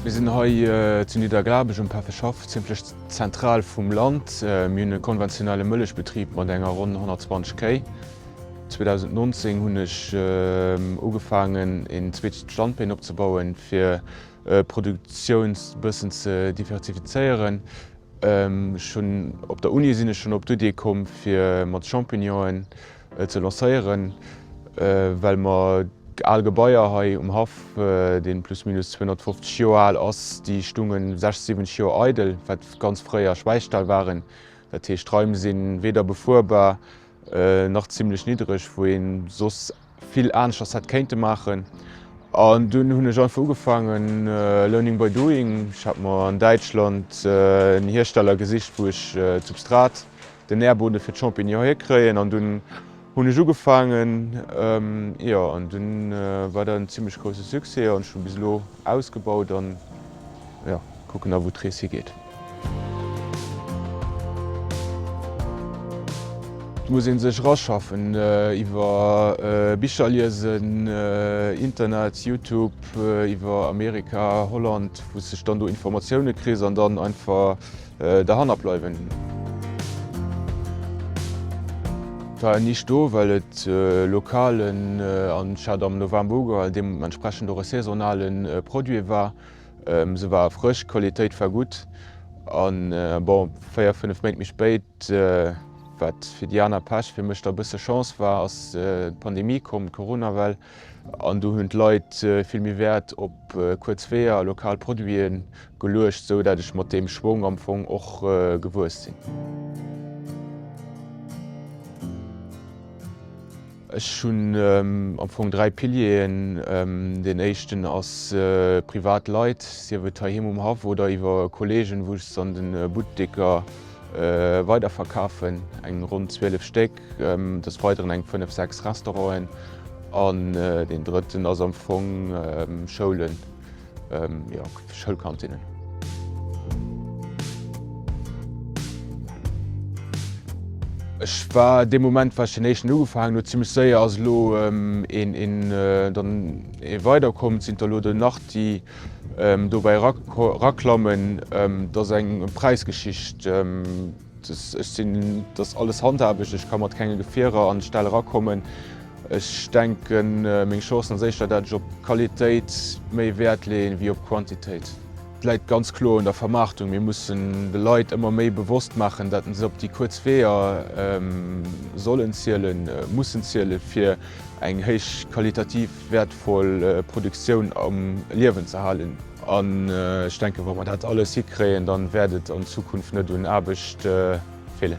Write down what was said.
Mir sinn hei zu Niddergrabeg um Pefferschaff, zimmlech zentral vum Land. Mir hunn e konventionelle Mëllechbetrib mat enger ronn 120 Kéi. 2019 hunn ech ugefaangen een zweete Standbeen opzebauen, fir d'Produktioun e bëssen ze diversifizéieren. Ech hunn op der Uni sinn ech schonn op d'Idee komm fir mat Champignonen ze lancéieren, well mer al Gebaier hei um Haff, dee plus minus 250 Joer al ass, déi stounge 60, 70 Joer eidel, wat ganz fréier Schwäichtal waren. Dat heescht d'Raim si weder befuerbar, nach zimlech niddereg, wou een soss vill aneschters hätt kéinte maachen an dunn hunn ech einfach ugefaangen learning by doing. Ech hat mer an Däitschland en Hiersteller gesicht wou ech d'Substrat, den Nährboden fir d'Champignon hierkréien an dunn hunn ech ugefaangen jo an dunn war dat en zimlech grousse Succès an ech hunn bis elo ausgebaut an jo. Kucken da wou d'Rees higeet. Et muss ee sech eraschaffen iwwer Bicher liesen, Internet, Youtube, iwwer Amerika, Holland, wou sech dann do Informatioune kriss an dann einfach derhanner bleiwen. Et war nicht do well et lokalen an ech hat am November ugehalen, deementsprechend och e saisonale Produit war. Se war frësch, d'Qualitéit war gutt. A bon, véier, fënnef Méint méi spéit, wat fir déi aner Pech, fir mech da e bësse Chance war, ass d'Pandemie komm, d'Coronawell. An do hunn d'Leit vill méi Wäert op kuerz Weeër a lokal Produite geluecht, esou datt ech mat deem Schwong am Fong och gewuess sinn. Ech hunn am Fong dräi Pilieren. Deen éischten ass privat Leit, sief et heiheem um Haff oder iwwer Kolleegen, wou ech se an de Butteker weiderverkafen, eng ronn 12 Stéck, des Weideren eng fënnef, sechs Restauranten an deen drëtten ass am Fong Schoulen. Schoulkantinnen. Ech war dee Moment wat ech den éischten ugefaangen huet zimmlech séier ass elo dann ee weider komm, sinn der elo der nach déi dobäi raklammen, et ass eng Präisgeschicht. Ech sinn dass alles handhabeg, ech ka mat kenge Gefierer an d'Stell erakommen. Ech denken meng Chancen ass éischter dat ech op Qualitéit méi Wäert leeën wéi op Quantitéit. Et läit ganz kloer un der Vermaartung. Mir mussen de Leit ëmmer méi bewosst maachen, dat se op déi kuerz Weeër sollen zielen, mussen zielen, fir eng héich qualitativ wäertvoll Produktioun am Liewen ze halen. An ech denken, wa mer dat alles hikréien, dann wäert et an Zukunft net un Aarbecht feelen.